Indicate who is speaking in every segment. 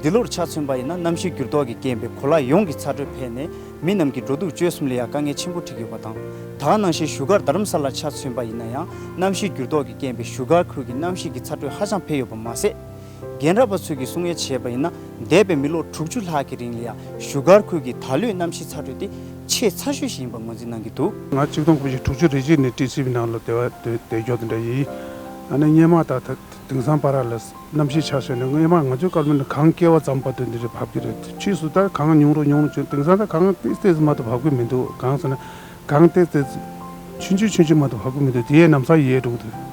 Speaker 1: འདི་ལོར་ཆ་མཚོན་པ་ཡིན་ན་གནམ་གཤིས་འགྱུར་ལྡོག་གིས་རྐྱེན་པས་གོ་ལ་ཡོངས་ཀྱི་ཚ་དྲོད་འཕེལ་ནས་མི་རྣམས་ཀྱི་འགྲོ་འདུག་སྤྱོད་གསུམ་ལ་ཡང་དཀའ་ངལ་ཆེན་པོ་འཕྲད་ཀྱི་ཡོད་པ་དང། ད་སྔ་ནང་བཞིན་བཞུགས་སྒར་རྡ་རམ་ས་ལར་ཆ་མཚོན་པ་ཡིན་ན་ཡང་གནམ་གཤིས་འགྱུར་ལྡོག་གིས་རྐྱེན་པས་བཞུགས་སྒར་ཁུལ་གྱི་གནམ་གཤིས་ཀྱི་ཚ་དྲོད་ཧ་ཅང་འཕེལ་ཡོད་པ་མ་ཟད། རྒན་རབས་པ་ཚོས་ཀྱིས་གསུང་ཡས་བྱས་པ་ཡིན་ན་འདས་པའི་མི་ལོ་དྲུག་ཅུ་ལྷག་གི་རིང་ལ་ཡང་བཞུགས་སྒར་ཁུལ་གྱི་ད་ལོའི་གནམ་གཤིས་ཚ་དྲོད་དེ་ཆེས་ཚ་ཤོས་ཤིག་ཡིན་པར་ངོས་འཛིན་གནང་གི་འདུག། ང་གཅིག་སྟོང་དགུ་བཞི་
Speaker 2: དྲུག་ཅུ་རེ་གཅིག་ནས་ཏི་སི་བྷི་ནང་ལ་དེ་བ་དེ་དེ་འགྱོག་དེ་འདྲ་ཡིན། ང་ནི་སྙེ་མ་དང་དེང་སང་པ་ར་ལ། རྣམ་ཤེས་ཆགས་བྱས་ནས་སྔོན་མ་ང་ཚོའི་སྐར་མ་ནི་གངས་བསྐལ་བ་ཙམ་བར་དུ་འདི་རུ་བབས་ཀྱི་རེད་ཕྱིས་སུ་ད་གངས་ཉུང་རུ་ཉུང་རུ་བྱུང་དེང་སང་ད་གངས་ཏིལ་ཏིལ་ཙམ་མ་གཏོགས་བབས་ཀྱི་མི་འདུག་གང་ཟེར་ན་གངས་ཏིལ་ཏིལ་ཆུན་ཆུན་ཆུན་ཆུན་མ་གཏོགས་བབས་ཀྱི་མི་འདུག་དེ་ཡས་ནམ་སང་ཡས་འགྲོ་གི་འདུག།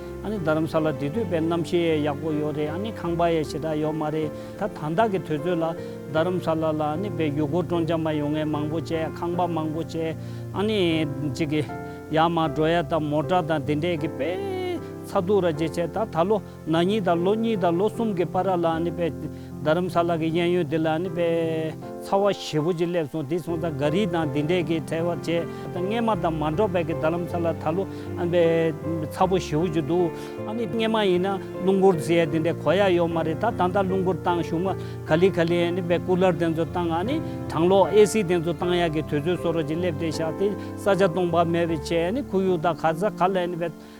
Speaker 3: ཨཱ་ནི་རྡ་རམ་ས་ལ་འདི་དུས་པའི་གནམ་གཤིས་ཨེ་ཡག་པོ་ཡོད་རེད་ཨཱ་ནི་ཁང་པ་ཨེ་ཞེ་དྲག་ཡོད་མ་རེད་ད་དང་བདག་གི་དུས་ཚོད་ལ་རྡ་རམ་ས་ལ་ལ་ཨཱ་ནི་བའི་ཡུལ་སྐོར་སྤྲོ་འཆམ་མ་ཡོང་ངས་མང་པོ་བྱས་ཁང་པ་མང་པོ་བྱས་ཨཱ་ནི་ཅི་གི། ཡ་མ་འགྲོ་ཡ་དང་མོ་དྲག་དང་དེ་འདྲས་གི་པས། ཚ་སྡུག་ར་ཇེ་ཆེ་ད་ད་ལོ་ན་གཉིས་དང་ལོ་གཉིས་དང་ལོ་གསུམ་གི་པ་ར་ལ་ཨཱ་ནི་པའི། རྡ་རམ་ས་ལ་གྱི་གཡས་གཡོན་འདི་ལ་ནི་པའི་ཚ་བ་ཞེ་བོ་ཅིག་སླེབས་སོང་དེ་སོང་ཙང་ག་རིས་དང་དེ་འདྲས་ཀྱིས་ཐལ་བར་བྱས་ཙང་སྔས་མ་དང་མ་འགྲོགས་པས་ཀྱི་རྡ་རམ་ས་ལ་ད་ལོ་ཨན་པའི་ཚ་བོ་ཞེ་བོ་ཅིག་འདུག་ཨ་ནི་སྔས་མ་ཡིན་ན་རླུང་སྒོར་རྫི་ཡས་དེ་འདྲས་གོ་ཡ་ཡོད་མ་རེད་ད་ད་ལྟ་རླུང་སྒོར་བཏང་བཞུགས་མ་ག་ལི་ག་ལི་ཨན་ནི་པའི་སྐུ་ལར་དེ་ཚོ་བཏང་ཨ་ནི་གྲང་ལོག་ཨེ་སི་དེ་ཚོ་བཏང་ཡག་གི་དུས་ཚོད་སོ་རོ་ཅིག་སླེབས་ཏེ་བཞག་དེ་ས་ཆ་སྟོང་པ་མེད་པའི་ཆེད་ཨ་ནི་ཁུ་ཡུག་དང་ག་ཚ་ག་ལ་ཨན་ནི་པའི།